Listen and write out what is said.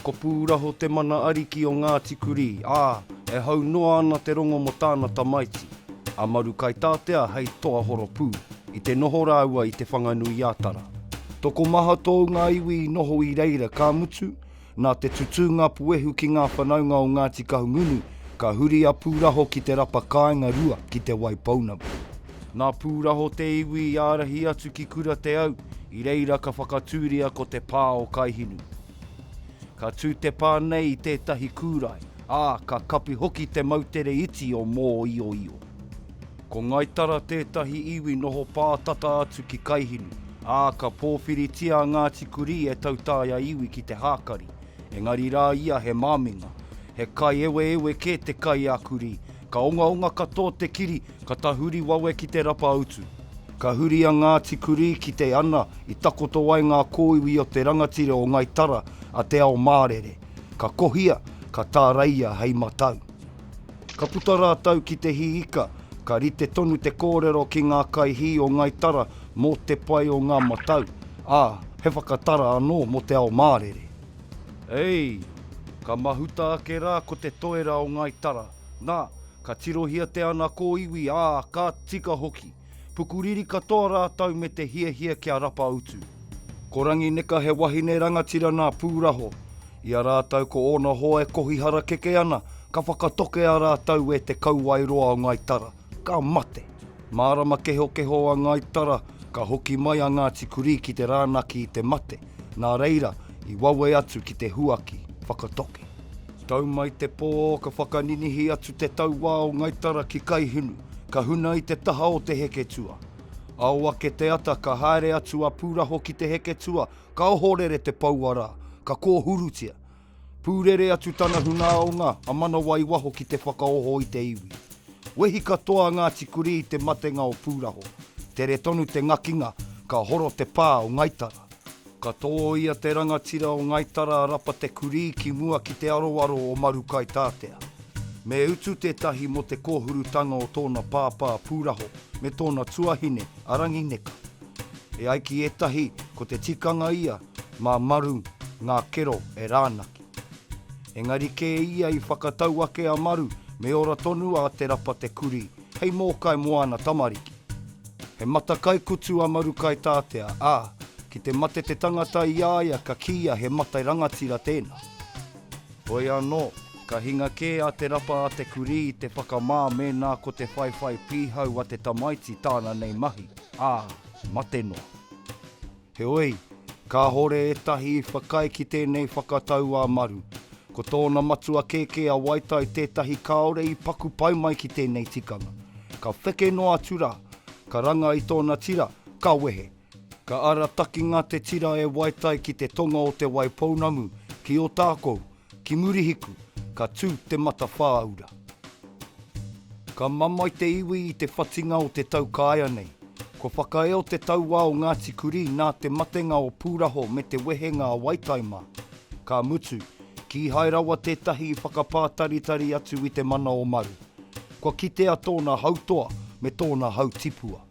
Ko Pūraho te mana ariki o Ngāti Kurī, ā, e hau noa ana te rongo mō tāna tamaiti, a Marukaitātea hei toa horopū, i te noho rāua i Te Whanganui-ā-Tara. Tokomaha tōu ngā iwi i noho i reira, ka mutu, Nā te tutūnga puehu ki ngā whanaunga o Ngāti Kahungunu, ka huri a Pūraho ki te rapa kāinga rua ki Te Waipounamu. Nā Pūraho te iwi i ārahi atu ki Kura Te Au, i reira ka whakatūria ko te pā o Kaihinu. Ka tū te pā nei i tētahi kūrae, ā, ka kapi hoki te moutere iti o Mōioio. Ko Ngai Tara tētahi iwi noho pā tata atu ki Kaihinu, ā, ka pōwhiritia a Ngāti Kurī e Tautaia iwi ki te hākari, engari rā ia he māminga. He kaieweewe kē te kai a Kurī, ka ongaonga katoa te kiri, ka tahuri wawe ki te rapa utu. Ka huri a Ngāti Kurī ki te ana i takoto ai ngā kōiwi o te rangatira o Ngai Tara a Te Ao Mārere, ka kohia, ka tāreia hei matau. Ka puta rātou ki te hī ika, ka rite tonu te kōrero ki ngā kaihī o Ngai Tara mō te pai o ngā matau, ā, he whakatara anō mō te ao mārere. Ei! Ka mahuta ake rā ko te toera o Ngai Tara, nā, ka tirohia te ana kōiwi, ā, ka tika hoki. Pukuriri katoa rātou me te hiahia kia rapa utu. Ko Rangineka he wahine rangatira nā Pūraho. I a rātou ko ōna hoa e kohi harakeke ana, ka whakatoke a rātou e te kauae roa o Ngai Tara, ka mate. Mārama kehokeho a Ngai Tara, ka hoki mai a Ngāti Kurī ki te rānaki i te mate, nā reira, i wawe atu ki te huaki, whakatoke. Tau mai te pō, ka whakaninihi atu te tauā o Ngai Tara ki Kaihinu, ka huna i te taha o te heketua. Ao ake te ata, ka haere atu a Pūraho ki te heketua, ka ohorere te poua rā, ka kōhurutia. Pūrere atu tana hunāonga a Manawa i waho ki te whakaoho i te iwi. Wehi katoa a Ngāti Kurī i te matenga o Pūraho. Tere tonu te ngakinga, ka horo te pā o Ngai Tara. Ka tōia te rangatira o Ngai Tara a Rapa Te Kurī ki mua ki te aroaro o Maru-kaitātea. Me utu tētahi mō te kōhurutanga o tōna pāpā Pūraho me tōna tuahine a Rangineka. E ai ki ētahi ko te tikanga ia mā Maru ngā kero e rānaki. Engari kē ia i whakatau ake a Maru me ora tonu a Te Rapa Te Kurī Kei Mōkai moana tamariki. He mata kaikutu a Marukaitaatea, ā, ki te mate te tangata i a ia ka kīia he mate rangatira tēnā. Hoi anō, ka hinga kē a Te Rapa a Te Kurī i te whakamā mēnā ko te whaiwhai pīhau a te tamaiti tāna nei mahi, ā, mate noa. Heoi, kāhore ētahi i whakaae ki tēnei whakatau a Maru. Ko tōna matua kēkē a Waitai tētahi kāore i paku pai mai ki tēnei tikanga. Ka wheke noa atu rā, ka ranga i tōna tira, ka wehe. Ka aratakinga te tira e Waitai ki te tonga o Te Waipounamu, ki Ōtākou, Ki Murihiku, ka tū te matawhāura. Ka mamae te iwi i te whatinga o te tau kāea nei. Kua whakaeo te tauā o Ngāti Kurī nā te matenga o Pūraho me te wehenga a Waitaima. Ka mutu, kīhai rawa tētahi i whakapātaritari atu i te mana o Maru. Kua kitea tōna hautoa me tōna hautipua.